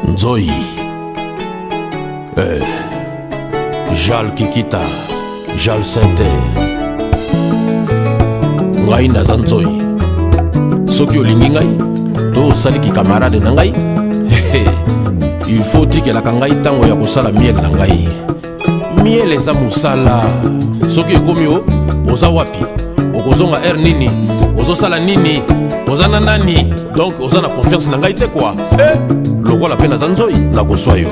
Nzoi eh. Jal Kikita Jal Sente Ngai naza nzoi Soki olingi ngai To osali ki camarade na ngai Il faut tikelaka ngai ntango ya kosala miel na ngai miele eza mosala soki ekomi o oza wapi okozonga heure nini ozosala nini oza na nani donk oza na konfiance na ngai te kua e eh, lokola mpe naza nzoi nakoswa yo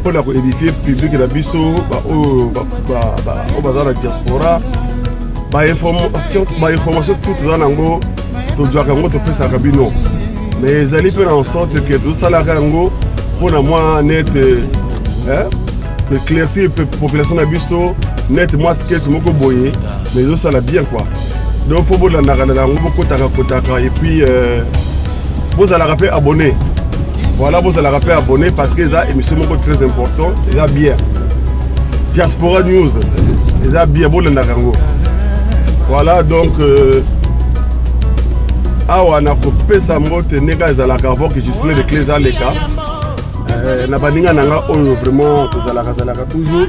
mpo na koedifie publike na biso baoyo baza na diaspora bainformation tout toza na yango tozwaka yango topesaka bino mais ezali mpe na ensorte ke tozosalaka yango mpo na mwa nete eh, éclaircir population na biso nete mwa sketch moko boye mais ezosala bien quoi donc mpo bolandaka na yango bokotaka kotaka epuis euh, bozalaka mpe abonné voilà bozalaka mpe abonné parce que eza émission moko très important eza bien diaspora news eza bien bolendaka yango voilà donc euh, awa nakopesa mbote ndenge ezalaka avant que gisle de clés aleka euh, na baninga na nga oyo vraiment tozalaka zalaka toujours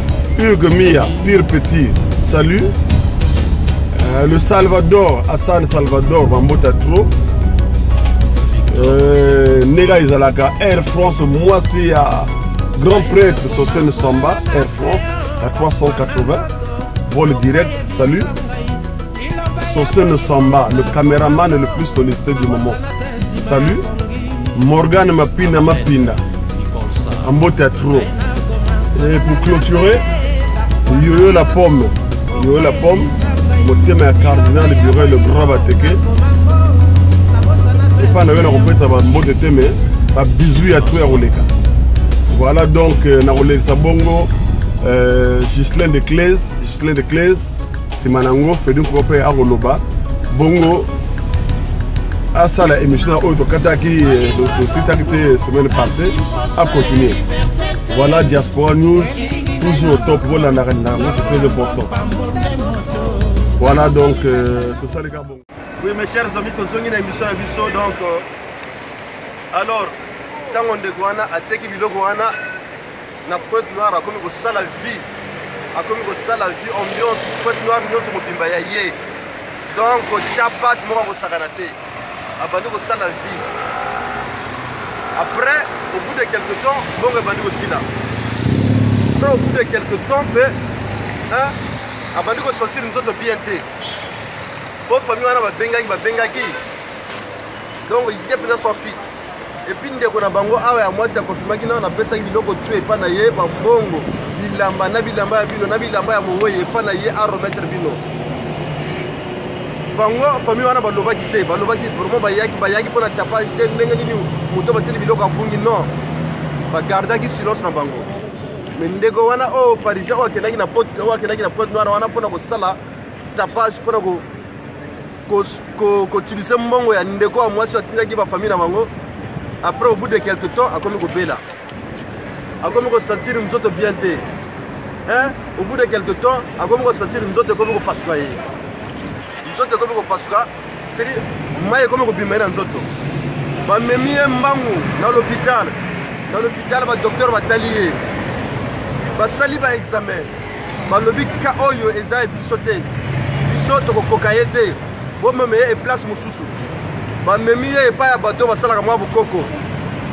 Hugues Mia, pire petit, salut. Euh, le Salvador, Hassan Salvador, Bambota trop. Euh, Nega Izalaka, Air France, moi c'est à Grand Prêtre, Sosene Samba, Air France, à 380. Vol direct, salut. Soso le samba, le cameraman le plus sollicité du moment. Salut. Morgane Mapina Mapina. En beau théâtre. Et pour clôturer, Yoyo la pomme. Yoyo la pomme. motema ya cardinal bureau le grand bateke epa na yo na kopesa bambote te me babizui ya to ya koleka voilà donc euh, na kolekisa bongo euh, gislin de claise gislin de claise nsima na yango fedi nkoko mpe akoloba bongo asala émission na oyo tokataki eh, tosisaki te eh, semaine passée acontinue voilà diaspora news toujours au top bolandaka na yango c'est très important voilà donc euh, tosalika bongo Oui, mes chers amis, tozongi na émission ya biso donc euh, alors ntango ndeko wana ateki biloko wana na pointe noire akomi kosala vie akomi kosala vie ambiance pointe noire nyonso mobimba ya ye donc ta pasi moko akosakana te abandi kosala vie après au bout de quelque temps bongo ebandi kosila après au bout de quelque temps mpe abandi kosentir nzoto bien te po famille wana babengaki babengaki donc ye mpenza sans suite epuis ndeko na bango awa ya mwasi akonfirmaki nao napesaki biloko tu epai na ye bambongo bilamba na bilamba ya bino na bilamba ya mowei epai na ye arometre bino bango famille wana balobaki te balobaki vraiment bayaki bayaki mpo na tapage te ndenge nini moto batili biloko abungi non bagardaki silence na bango me ndeko wana oyo parisien oyo akendaki na pote oyo akendaki na pointe noire wana mpona kosala tapage mpona kotilise mbongo ya ndeko ya mwasi atindaki bafamille na bango après au bout de quelque temps akomi kobela akomi kosentir nzoto bien te hein? au bout de quelque temps akomi kosentir nzoto ekomi kopasuka ye nzoto ekomi kopasuka seke mai ekomi kobima ye na nzoto bamemi ye mbangu na lopital na lopital badoktere batali ye basali baexamen balobi ka oyo eza ya biso te biso tokokoka ye te bomeme ye eplace mosusu bamemi ye epai ya bato basalaka mwa bokoko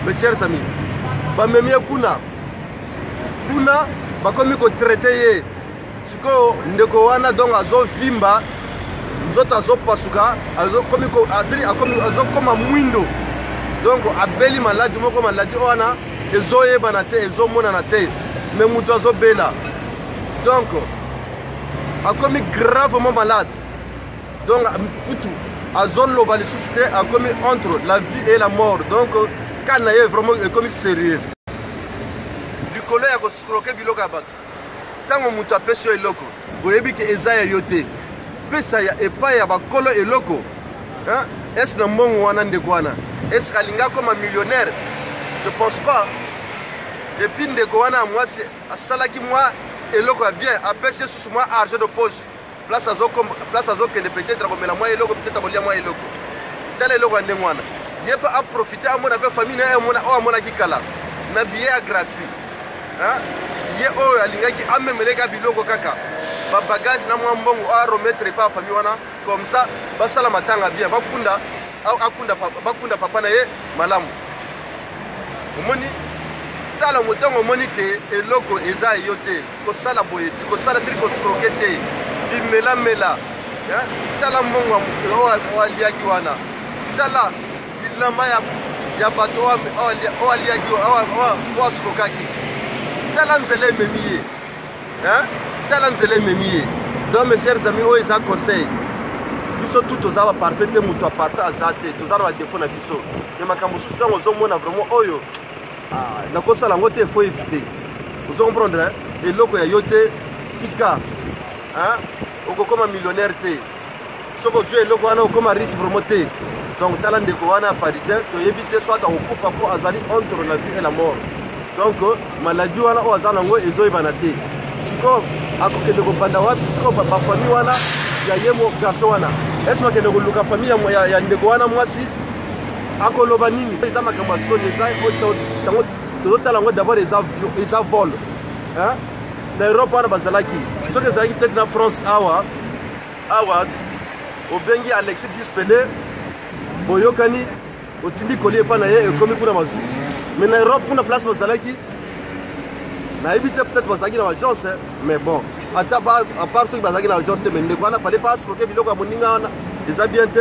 mes chers amis bamemi ye kuna kuna bakomi kotraite ye sikoyo ndeko wana donc azovimba nzoto azopasuka azokoma mwindo donc abeli maladi moko maladi oyo wana ezoyebana te ezomonana te me moto azobela donc akomi gravement malade donc kutu azoloba lisusu te akomi entre la vie et la mort donc kani na ye vraiment ekomi sérieux likolo ya koscroke biloko ya bato ntango moto apesi yo eloko oyebi ke eza ya yo te pesa ya epai ya bakolo eloko ese na mbongo wana ndeko wana ese alingi akoma millionnaire je pense pas epuis ndeko wana ya mwasi asalaki mwa eloko ya bien apesi esusu mwa argent de poche place azo place azo kende peut-être akomela mwa eloko peut-être akolia mwa eloko tala eloko ya ndenge wana ye mpe aprofite amona mpe famille na ye amona oyo amonaki kala na billet ya gratuit ye oyo alingaki amemeleka biloko kaka babagage na mwa mbongo oyo arometre epa ya famille wana comme ça basala matanga bien bakunda akunda bakunda papa na ye malamu omoni tala motango omoni ke eloko eza yo te Kosala boye te, kosala sili kostroke te, bimelamela. Tala mbongo oyo aliaki wana, tala bilamba ya bato oyo aliaki, oyo astrokaki, tala nzela ememi ye, tala nzela ememi ye. Donc mes chers amis, oyo eza conseil biso tout toza baparfait te moto aparfait aza te toza na badefo na biso me makambo mosusu ntango ozomona vraiment oyo ah, nakosala yango te faut éviter ozo comprendre hein? eloko ya yo te tika hein? okokoma millionnaire te soki ozwi eloko wana okoma riche vraiment te donc tala ndeko wana ya parisien toyebi te soit akokufa mpo azali entre la vie et la mort donc maladie wana oyo aza nango ezoyebana te sikoyo akokende kobanda wapi sikoyo bafamille wana ya ye garçon wana ese bakende koluka famille ya ndeko wana mwasi akoloba nini eza makambo ya soni eza yango tozotala yango d'abord eza vol na europe wana bazalaki soki ezalaki peut-être na france awa awa obengi alexis dispele boyokani otindi koli epai na ye ekomi kuna mazu mais na europe kuna place bazalaki nayebi te peut-être bazalaki na agence mais bon ata apart soki bazalaki na agence te mais ndeko wana fale baasloke biloko ya moninga wana eza bien te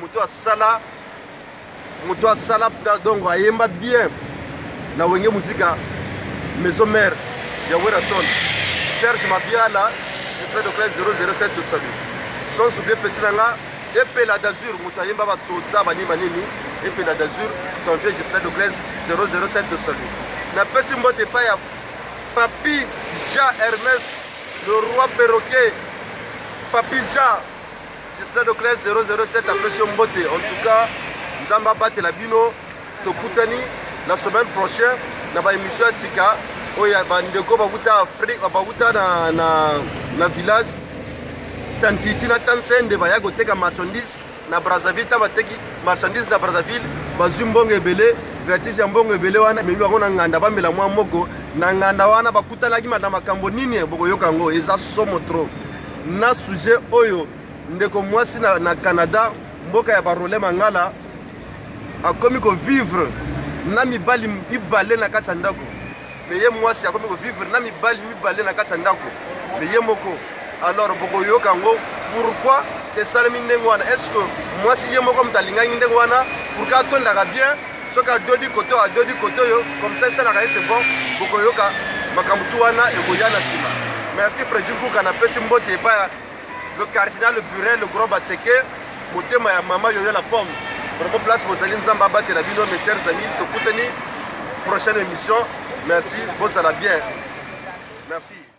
moto asala moto asala donc ayemba bien na wenge muzika maison mère ya werrason serge mabiala espèce de classe 007 tosabi sans oublier petit na nga epela d'azur moto ayemba batsotsa banini banini epela d'azur ton vieux justin de claise 007 de salut napesi mbote epai ya papi jean hermes le roi perroquet papi jean Justin Docles 007 apesi yo mbote. En tout cas, Nzambe abatela bino. Tokutani la semaine prochaine na ba émission ya sika oyo ya bandeko bakuta Afrique bakuta na, na, na village tantiti na tansende baya koteka marchandise na Brazzaville ta bateki marchandise na Brazzaville bazwi mbongo ebele vertige ya mbongo ebele wana ememi bango na nganda bamela mwa moko na nganda wana bakutanaki na makambo nini bokoyoka yango eza somo trop na sujet oyo ndeko mwasi na, na canada mboka ya barole mangala akomi kovivre na mibali mibale na kati ya ndako me ye mwasi akomi kovivre na mibali mibale na kati ya ndako me ye moko alors bokoyoka yango pourquoi esalemi ndenge wana est ce que mwasi ye moko moto alingaki ndenge wana pourkui atondaka bien soki adodi koto adodi koto oyo comme ça esalaka ye c'est bon bokoyoka makambo tu wana ekoya na nsima merci fredi mbuka napesi mbote epai ya le cardinal burel le grand bateke motema ya mama yoyo la pomme vraiment place bozali nzambe abatela bino mes chers amis tokutani prochaine émission merci bozala bien merci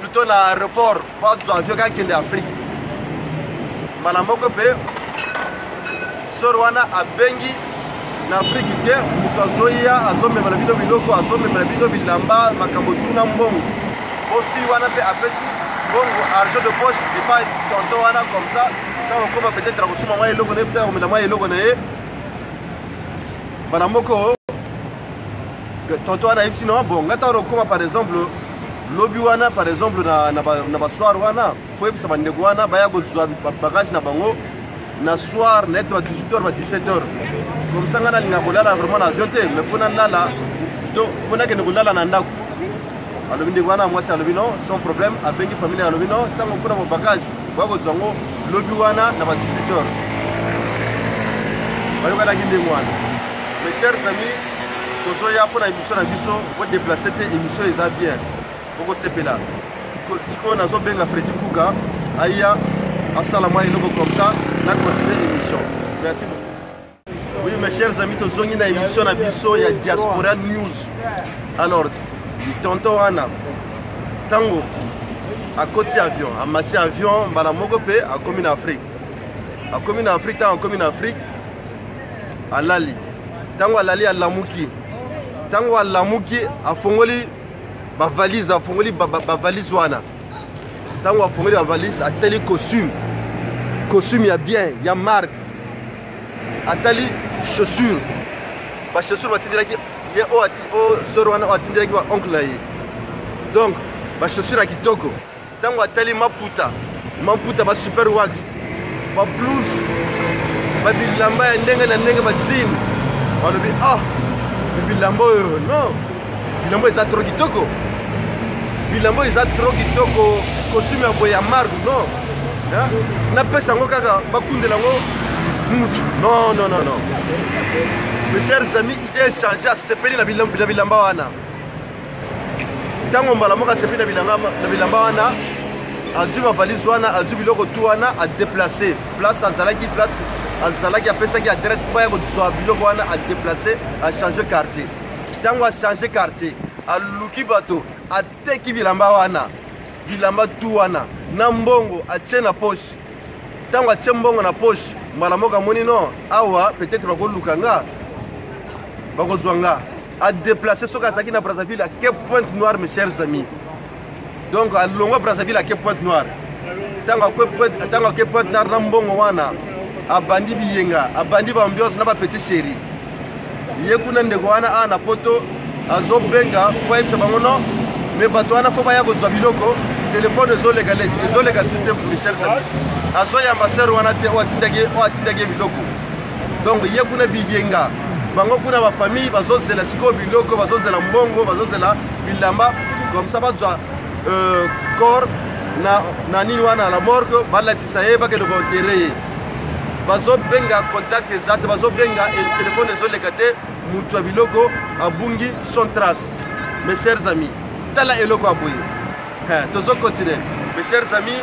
plutôt na aéroport po azwa avion kaka kende afrique mbala moko mpe sor wana abengi na afrike te moto azoya azomemela bino biloko azomemela bino bilamba makambo tuna mbongo po fi wana mpe apesi mbongo argent de poche epai tonton wana comme ça ntango okoma peut-être akosuma mwa eloko na ye mpe akomela mwa eloko na ye mbala moko tonto wana ayebisi na bon nga ntango okoma par exemple lobi wana par exemple na basoir wana fo yebisa bandeko wana baya kozwa bagage na bango na soir na ete ba 18 heures ba 17 heures komisa ngai nalinga kolala vraiment na avion te mais mpo nalala to mpo nakende kolala na ndako alobi ndeko wana mwasi alobi no sans problème abengi famille alobi no ntango mpona ba bagage boya kozwa yango lobi wana na ba 18 heures bayokanaki ndenge wana Mes chers amis, tozoya mpo na émission na biso odeplace te émission eza bien okosepela sikoyo nazobenga fredi kuka aya asala mwa eloko comme ça na continue émission merci beaucoup oui mes chers amis tozongi na émission na biso ya diaspora news alors tonton wana ntango akoti avion amati avion mbala moko mpe akomi na afrique akomi na afrique ntango akomi na afrique alali ntango alali alamuki ntango alamuki afongoli bavalise afongoli bavalise wana ntango afongoli bavalise atali costume costume ya bien ya marque atali chaussure bachaussure batindelaki ye oyo sor wana oyo atindelaki baoncle na ye donc bachaussure ya kitoko ntango atali maputa maputa ba super wax ba plus ba bilamba ya ndenge na ndenge bazini balobi ah bilamba oyo non bilamba eza tro kitoko bilamba oyo eza tro kitoko costume ya boye ya marque non napesa yango kaka bakundela yango mutu non non non non mes chers amis idée echange asepeli na bilamba wana ntango mbala moko asepi na bilamba wana azwi bavalise wana azwi biloko tu wana adeplace place azalaki place azalaki apesaki adresse mpo ya kozwa biloko wana adeplace achange quartier ntango achange quartier aluki bato ateki bilamba wana bilamba tu wana na mbongo atie na poche ntango atie mbongo na poche mbala moko amoni no awa peut-être bakoluka nga bakozwa nga a déplacer soki azalaki na brazzaville ake pointe noire mes chers amis donc alongwa brazzaville ake pointe noire ntango ake pointe noire na mbongo wana abandi biyenga abandi baambiance na bapetit chéri ye kuna ndeko wana awa na poto azobenga mpo ayebisa bango no me bato wana fo baya kozwa biloko telefone ezoleka leki ezoleka lisusu te michel sami azoyamba sere wana te oyo atindaki ye biloko donc ye kuna biyenga bango kuna bafamille bazozela sikoyo biloko bazozela mbongo bazozela bilamba comme ça bazwa euh, corps na, na nini wana la morgue balatisa ye bakende koentere ye bazobenga contact eza te bazobenga telefone ezoleka te motu ya biloko abungi son trace mes chers amis tala eloko ya boye tozocontinue mes chers amis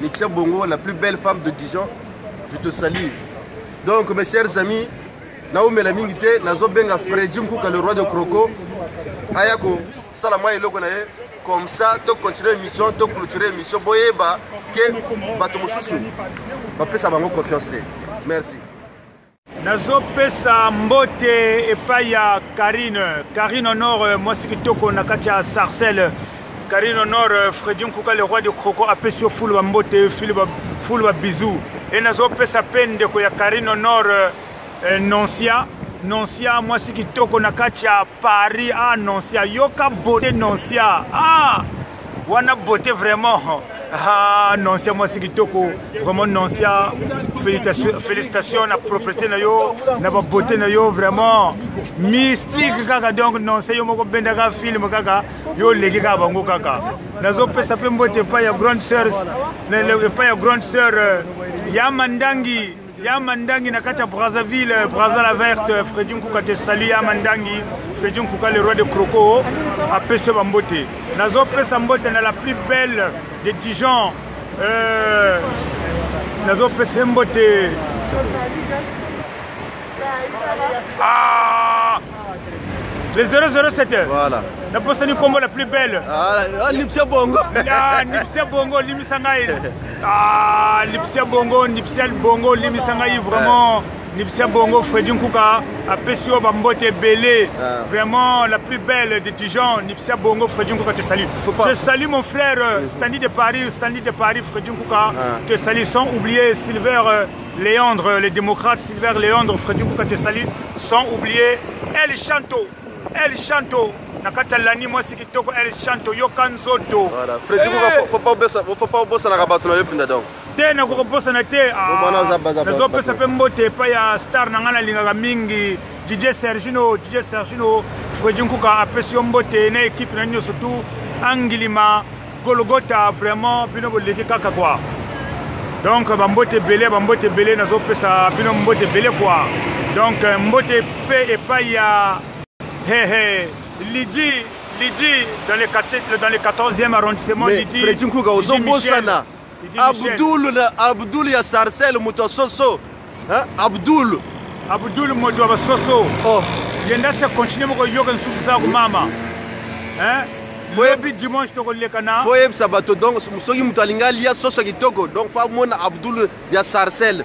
Letitia Bongo, la plus belle femme de Dijon, je te salue. Donc, mes chers amis, naumela mingi te nazobenga fredi mkuka le roi de croco aya kosala mwa eloko na ye comme ça tocontinue émission toclôture émission boyeba ke bato mosusu bapesa bango confiance te merci nazopesa mbote epai ya karine karine honore mwasi kitoko na kati ya sarcelle karine honore fredi nkuka le roi de croco apesi yo fulu bambote fulu babizu e nazopesa mpe ndeko ya karine honore eh, noncia noncia mwasi kitoko na kati ya paris ah noncia yoka bote noncia ah wana beauté vraiment ah nonsia mwasi kitoko vraiment nonsia félicitation na propriété na yo na babeauté na yo vraiment mystique kaka donc nonsia yo moko bendaka film kaka yo oleki kaka bango kaka nazopesa mpe mbote epai ya grande sœur epai ya grande sœur euh, ya mandangi ya mandangi na kati ya brazzaville brazza la verte fredi nkuka te sali ya mandangi fredi nkuka le roi de croco apesi bambote nazopesa mbote na la plus belle de dijon euh, nazopesa mbote ah! Le 007 Voilà. Na posa ni kombo la plus belle. Ah, ah Lipsia Bongo. Ah, Lipsia Bongo, Limisa ngai. Ah, Lipsia Bongo, Lipsia Bongo, Limisa ngai vraiment. Lipsia Bongo, Freddy Nkuka, apesi yo ba mbote ebele. Ah. Vraiment la plus belle de Dijon, Lipsia Bongo, Freddy Nkuka te salue. Je salue mon frère euh, Stanley de Paris, Stanley de Paris, Freddy Nkuka, ah. te salue sans oublier Silver euh, Leandre, les démocrates, Silver Leandre, Freddy Boukatessali, sans oublier El Chanto. El Chanto, na kati ya lani mwasi kitoko el chanto yoka nzoto eh! faut pas obosanaka bato na yo mpenza donc te nakoki kobosana te nazopesa ah, mpe mbote epai ya star na ngai nalingaka mingi didie sergino didie sergino fredi nkuka apesi yo mbote na ekipe na nini surtout angilima golgota vraiment bino boleki kaka kwa donc bambote ebele bambote ebele nazopesa bino mbote ebele kwa donc euh, mbote mpe epai ya hehe lidi lidi dans le 14e arrondissement lidi fredi nkuka ozobosana Abdul na Abdul ya Sarcelle moto soso. Hein? Abdul. Abdul moto wa soso. Oh. Yenda se continuer moko yoka nsusu za mama. Hein? boyebi dimanche tokoleka na boyebisa bato donc soki moto alingi alia soso kitoko donc fa mona abdul ya sarcelle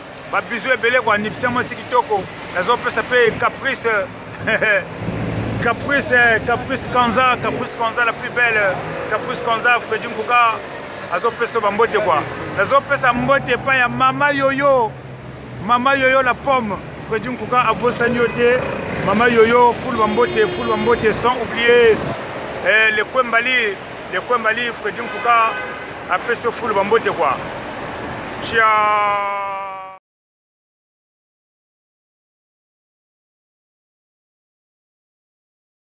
ba bisous ebele ko anipsia mwasi kitoko nazo pesa pe caprice caprice caprice kanza caprice kanza la plus belle caprice kanza Freddy Mbuka azo pesa ba mbote quoi nazo pesa mbote pa ya mama yoyo mama yoyo la pomme Freddy Mbuka abosani yo te mama yoyo full ba mbote full ba mbote sans oublier eh, le Kwembali Le coin Mali Freddy Mpuka apesi yo fulu bambote kwa cia